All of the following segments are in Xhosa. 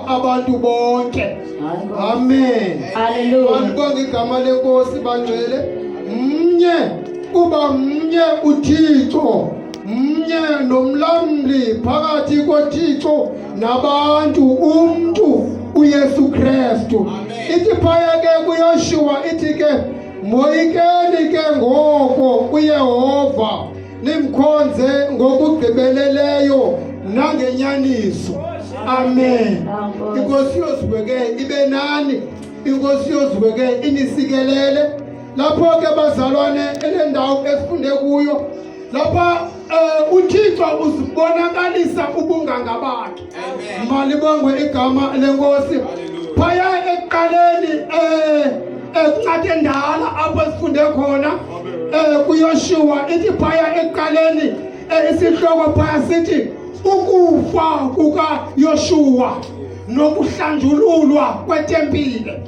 abantu bonke amen andikwa ngegama lenkosi bangcwele mnye kuba mnye uthixo mnye nomlamli phakathi kothixo nabantu umntu uyesu krestu ithi phaya ke kuyoshiwa ithi ke moyikeni ke ngoko kuyehova nimkhonze ngokugqibeleleyo nangenyaniso amen inkosi yozibeke ibe nani inkosi yozibeke inisikelele lapho ke bazalwane elendawo esifunde kuyo lapha um uthixo uzibonakalisa ubunganga bakhe malibongwe igama lenkosi phaya ekuqaleni um ekuncade ndala apho sifunde khona um kuyoshuwa ithi phaya ekuqaleni um isihloko phaya sithi ukufa kukayoshuwa nokuhlanjululwa kwetempile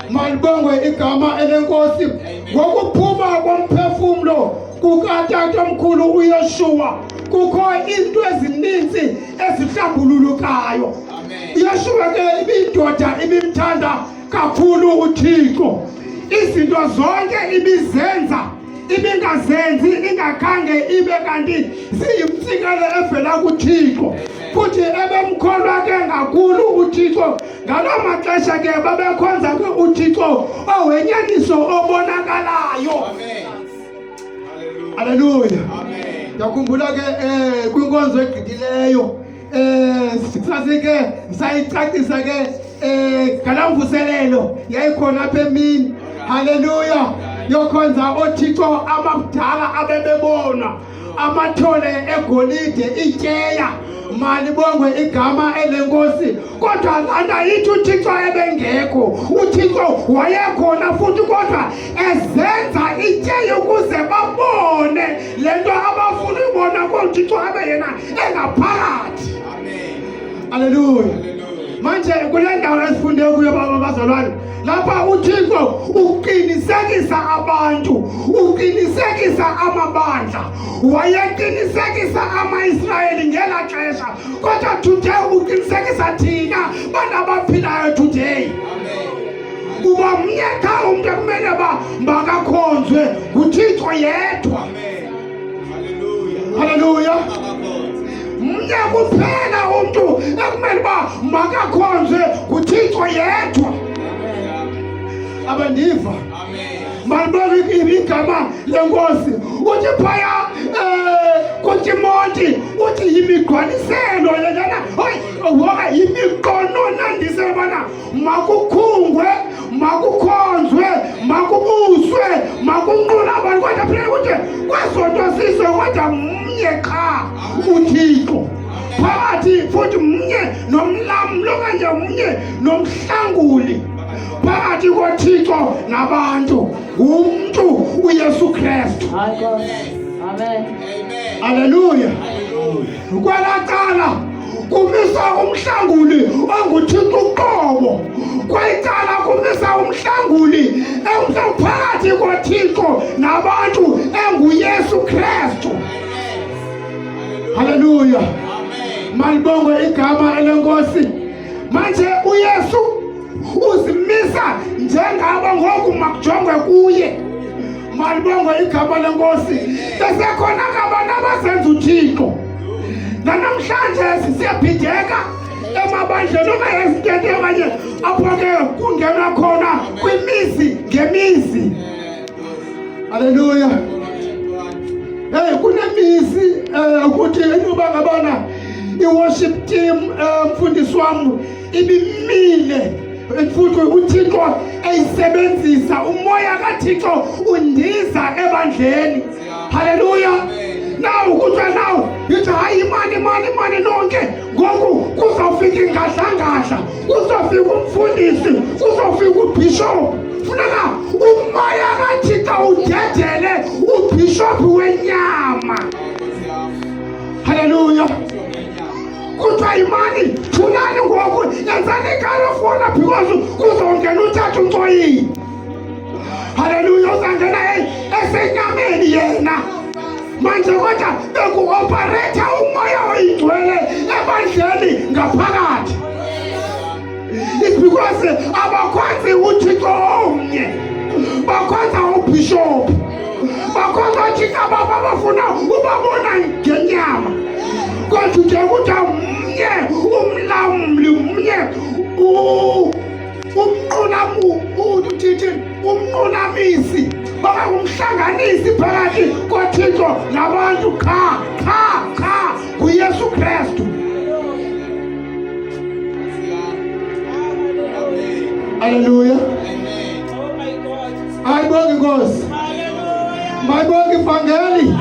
malibongwe igama elenkosi ngokuphuma komphefumlo kukatata omkhulu uyeshuwa kukho iinto ezininzi ezihlambululukayo yeshuwa ke ibindoda ibimthanda kakhulu uthixo izinto zonke ibizenza ibingazenzi ingakhange ibe kanti siyimtsikelo evela kuthixo futhi ebemkholwa ke ngakhulu uthixo ngaloo maxesha ke babekhonza ke uthixo owenyaniso obonakalayo aleluya ndiyakhumbula ke um kwinkonzo egqithileyo Eh, sikufase ke sayicacisa ke eh ngala mvuselelo yayikhona apha emini haleluya yokhonza othixo abakudala abebebona amathole egolide ityeya malibongwe igama elenkosi kodwa lana yithi uthixo ebengekho uthixo wayekhona futhi kodwa ezenza ityeya ukuze babone le nto abafuna ubona konjixo abe yena engaphakathi aleluya manje kule ndawo esifunde kuyo baba bazalwane lapha uthixo uqinisekisa abantu uqinisekisa amabandla wayeqinisekisa amaisrayeli ngela xesha kodwa today uqinisekisa thina bantu abaphilayo today Amen. kuba mnye qha umntu ekumele uba makakhonzwe nguthixo yedwa halleluya mnye kuphela umntu ekumele uba makakhonzwe nguthixo yedwa abandiva malibeke igama lenkosi uthi phaya um kutimonti uthi yimigqwaniselo yeyana hoyi woka yimiqononandiselo bana makukhungwe makukhonzwe makubuswe makunqula abantu kodwa phela ukuthi kwezonto sizwe kodwa mnye qha uthixo phakathi futhi mnye nomlamlo okanye mnye nomhlanguli phakathi kothixo nabantu ngumntu uyesu kristu aleluya Kwelaa cala kumisa umhlanguli onguthixo uqobo kwayicala kumisa umhlanguli emhlawuphakathi kothixo nabantu enguyesu kristu halleluya malibongwe igama elenkosi manje uyesu uzimisa njengabo ngoku makujongwe kuye malibongwe igama lenkosi besekhona ngabantu abazenza uthixo nanamhlanje sisiyabhideka emabandleni okanye ezitente okanye apho ke kungenwa khona kwimizi ngemizi aleluya hey kunemizi eh, ukuthi inoba ngabana i-worship team eh, mfundisi wam ibimile Bendifuna uthixo eyisebenzisa umoya kathixo undiza ebandleni halleluya naw kuthiwa naw yithi hayi imani imani imani nonke ngoku kuzofika ingadlangadla kuzofika umfundisi kuzofika ubhishophu funeka umoya kathixo udedele ubhishophu wenyama halleluya kuthiwa yimani thulani ngoku yenzani ikalofuna because kuzongena uthatha umcoyini haleluya uzangena esenyameni yena manje kodwa bekuoparetha umoya oyingcwele ebandleni ngaphakathi It's because abakwazi uthixo omnye bakwaza ubhishophu bakwaza uthixo ababo abafuna ubabona ngenyama kodwa nje kuthiwa mnye umlamli mnye umnqulamuthithin umnqunamisi bangangumhlanganisi phakathi kothixo nabantu qha qha ku Yesu Kristu. Haleluya. Aibongi Nkosi. Maibongi Vangeli.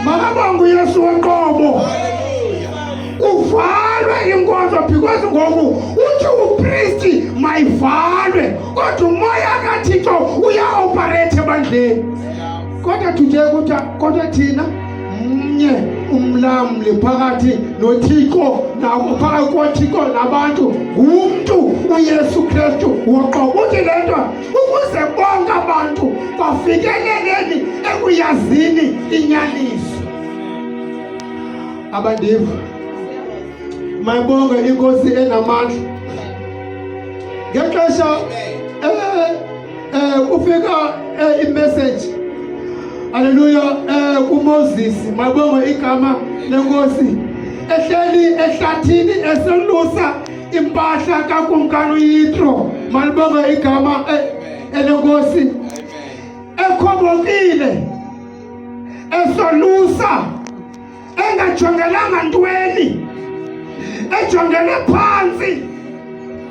Makabongu Yesu wenqobo. Uvalwe inkonzo because ngoku uthi upristi mayivalwe kodwa umoya kaThixo uyaoperate ebandleni. Kodwa thuje kuthiwa kodwa thina mnye umlamli phakathi nothixo phakathi kothixo nabantu ngumntu uyesu kristu woqobo uthi le nto ukuze bonke abantu bafikeleleni ekuyazini inyaniso abandiva mayibonge inkosi enamandla ngexesha eh, Eh, ufika eh, imessage Haleluya eh uMoses mabongo igama lenkosi ehleli ehlathini eselusa impahla kakumkani uYitro malibongo igama eh, elenkosi ekhobokile esolusa engajongelanga ntweni ejongele phantsi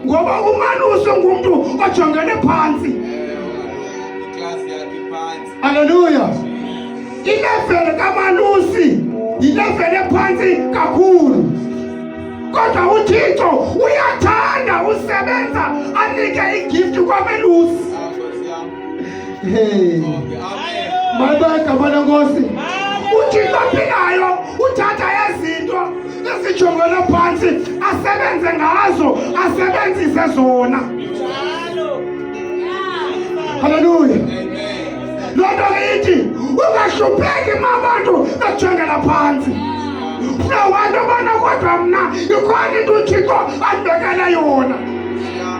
ngoba umanuse ngumntu ojongele phantsi aleluya ilevele kamalusi yilevele phantsi kakhulu kodwa uthixo uyathanda usebenza anike igift kwamelusi Hey. Mata kabana ngosi. Uthixo aphilayo uthatha ezinto esijongele phantsi asebenze ngazo asebenzise zona. Haleluya. Loo nto ke ithi ungahlupheki ma abantu bejongela phantsi. Funa wantu obana kodwa mna ikhona into uThixo andibekele yona.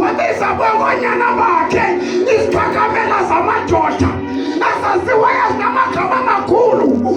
wabisa kwabanyana bakhe iziphakamela zamadoda azaziwayo zinamagama amakhulu